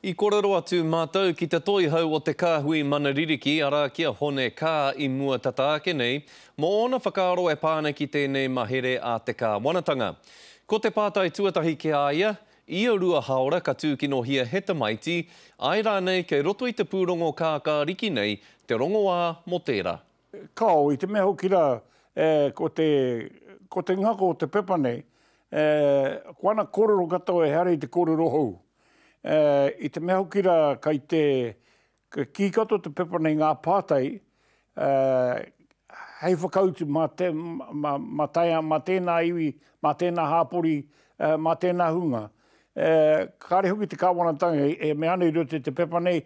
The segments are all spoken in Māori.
I korero atu matou ki te toihau o te Kahui Mana Ririki ara ki a Hone Kaa i mua tata ake nei mo ona whakaaro e pa ana ki tenei mahere a te Kawanatanga. Ko te patai tuatahi ki a ia, ia rua haora ka tukinohia he tamaiti, ae ranei kei roto i te purongo kaakariki nei te rongoa mo tera. Kao, i te mea hoki ra e ko te ko te ngako o te pepa nei e ko ana korero katoa e hare i te korero hou. Ā, i te mea hoki rā kei te, ka kī katoa te pepa nei ngā pātai, ā, hei whakautu mā te, mā, mā tae, mā tēnā iwi, mā tēnā hāpori, ā, mā tēnā hunga. Ā, kāre hoki te Kāwanatanga e mea ana i roto i te pepa nei,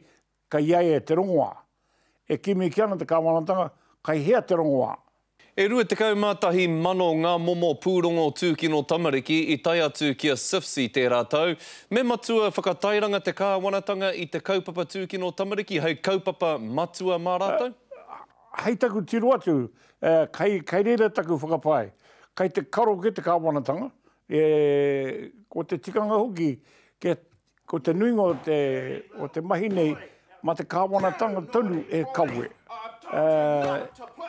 Kei a ia te rongoā. E kimi kē ana te kāwanatanga, kei hea te rongoā? E rua tekau mā tahi mano ngā momo pūrongo tūkino tamariki i tae atu ki a SIFS i tērā tau. Me matua whakatairanga te kāwanatanga i te kaupapa tūkino tamariki hei kaupapa matua mā rātou? Hei taku tiro atu, kei reira taku whakapae. Kei te karo kē te kāwanatanga, ko te tikanga hoki kia Ko te nuinga o te mahi nei, mā te kāwanatanga tonu e kawe.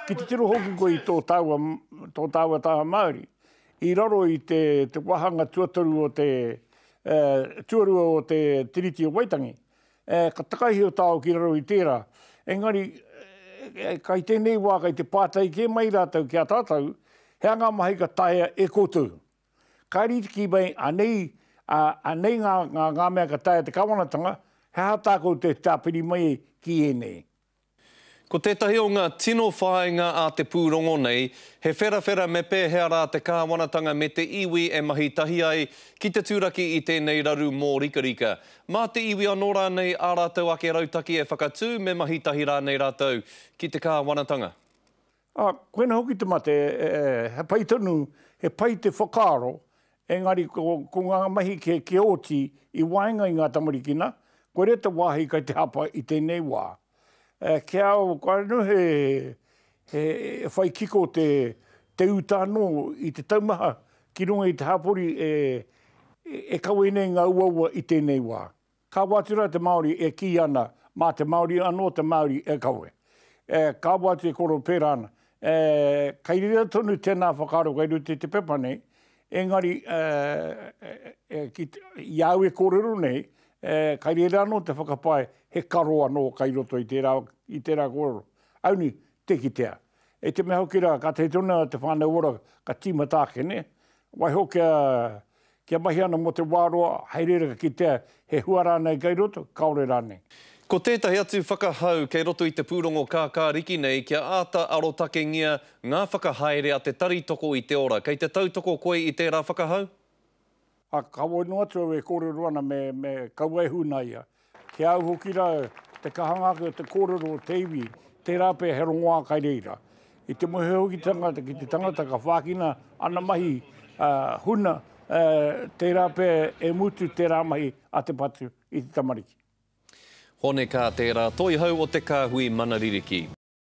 Ki te tiro hoki koe i tō tāua taha Māori, i raro i te wāhanga tuatoru o te, tuarua o te Tiriti o Waitangi, ka takaihe o tāua ki raro i tērā. Engari, kai tēnei wā, kai te pātai kē mai rātou ki a tātou, he anga mahi ka taea e koutou? Ka rite ki mai, anei, ā, anei ngā, ngā, ngā mea ka taea te Kawanatanga, he aha tā koutou e tāpiri mai ai ki ēnei? Ko tētahi o ngā tino whāinga a te pūrongo nei, he wherawhera me pēhea rā te Kāwanatanga me te iwi e mahi tahi ai ki te turaki i tēnei raru mōrikarika. Mā te iwi anō rānei ā rātou ake rautaki e whakatū me mahi tahi rānei rātou ki te Kāwanatanga? Ā, koinā hoki te mate, he pai tonu, he pai te whakaaro, engari ko ngā mahi kē kia oti i waenga i ngā tamarikina, koirā te wāhi kei te hapa i tēnei wā. Kia anu he whai kiko te uta anō i te taumaha ki runga i te hapori e kawe nei ngā uaua i tēnei wā. Ka whāti rā te Māori e kī ana, mā te Māori anō te Māori e kawe. Ka whāti e koro pērā ana. Kei reira tonu tēnā whakaaro kei roto i te pepa nei, engari i a au e kōrero nei, kei reira anō te whakapae he karo anō kei roto i tērā, i tērā kōrero. Aunī, tē kitea. I te mea hoki rā, ka tae tonu te Whānau Ora ka tīmata ake, nē? Waiho kia Kia mahi ana mō te wā roa, hei reira ka kitea he hua rānei kei roto, kāore rānei. Ko tētahi atu whakahau kei roto i te pūrongo kākāriki nei kia āta arotakengia ngā whakahaere a Te Tari Toko i te Ora. Kei te tautoko koe i tērā whakahau? Ā, kāore noa atu au e kōrero ana me, me kaua e huna ia. Ki au hoki ra, te kahanga ake o te kōrero o te iwi, tērā pea he rongoā kai reira. I te mōhiohitanga ki te tangata ka whākina ana mahi huna, tērā pea e mutu tērā mahi a te patu i te tamariki. Hone kā tērā toihau o te kāhui mana ririki.